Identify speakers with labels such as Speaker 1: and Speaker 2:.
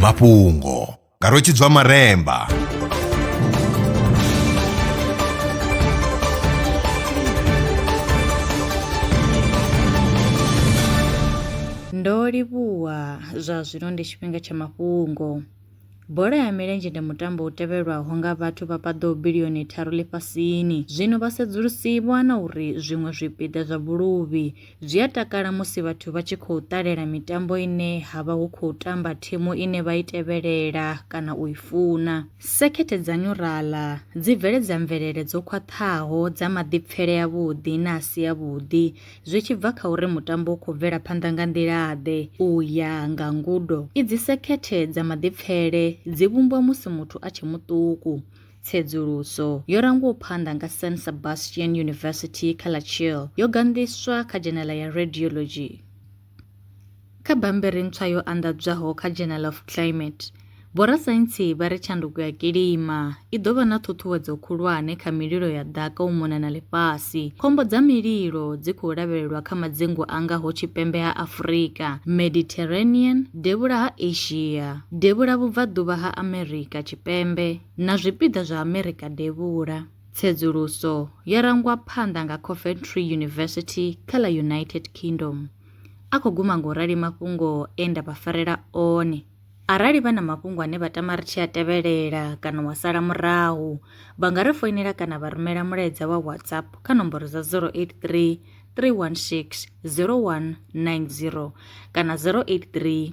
Speaker 1: mafhungo nga rwetshidzwa maremba
Speaker 2: ndo livhuwa zwa zwino ndi tshifhinga tsha mafhungo Bola ya milenzhe ndi mutambo u tevhelwaho nga vhathu vha paḓaho bilioni tharu ḽifhasini. Zwino vhasedzulusi vho wana uri zwiṅwe zwipiḓa zwa vhuluvhi zwi a takala musi vhathu vha tshi khou ṱalela mitambo ine ha vha hu khou tamba thimu ine vha i tevhelela kana u i funa. Sekhethe dza nyuraḽa dzi bveledza mvelele dzo khwaṱhaho dza maḓipfele avhuḓi na a si avhuḓi, zwi tshi bva kha uri mutambo u khou bvela phanḓa nga nḓila-ḓe. U ya nga ngudo idzi, sekhethe dza maḓipfele dzi vhumbwa musi muthu a tshe muṱuku. Tsedzuluso yo rangwaho phanḓa nga San Sebastian University kha ḽa Chile yo ganḓiswa kha dzhenela ya Radiology. Kha bammbiri ntswa yo anḓadzwaho kha Journal of Climate, vhorasaintsi vha ri tshanduko ya kilima i ḓo vha na ṱhuṱhuwedzo khulwane kha mililo ya ḓaka u mona na ḽifhasi. Khombo dza mililo dzi khou lavhelelwa kha madzingu a ngaho tshipembe ha Afurika, Mediterranean, devhula ha Asia, devhula-vhubvaḓuvha ha Amerika Tshipembe na zwipiḓa zwa Amerika Devhula. Tsedzuluso yo rangwa phanḓa nga Coventry University kha ḽa United Kingdom. A khou guma nga u rali mafhungo e nda vha farela one. Arali vha na mafhungo ane vha tama ri tshi a tevhelela kana wa sala murahu, vha nga ri foinela kana vha rumela mulaedza wa WhatsApp kha nomboro dza 083 316 0190 kana 083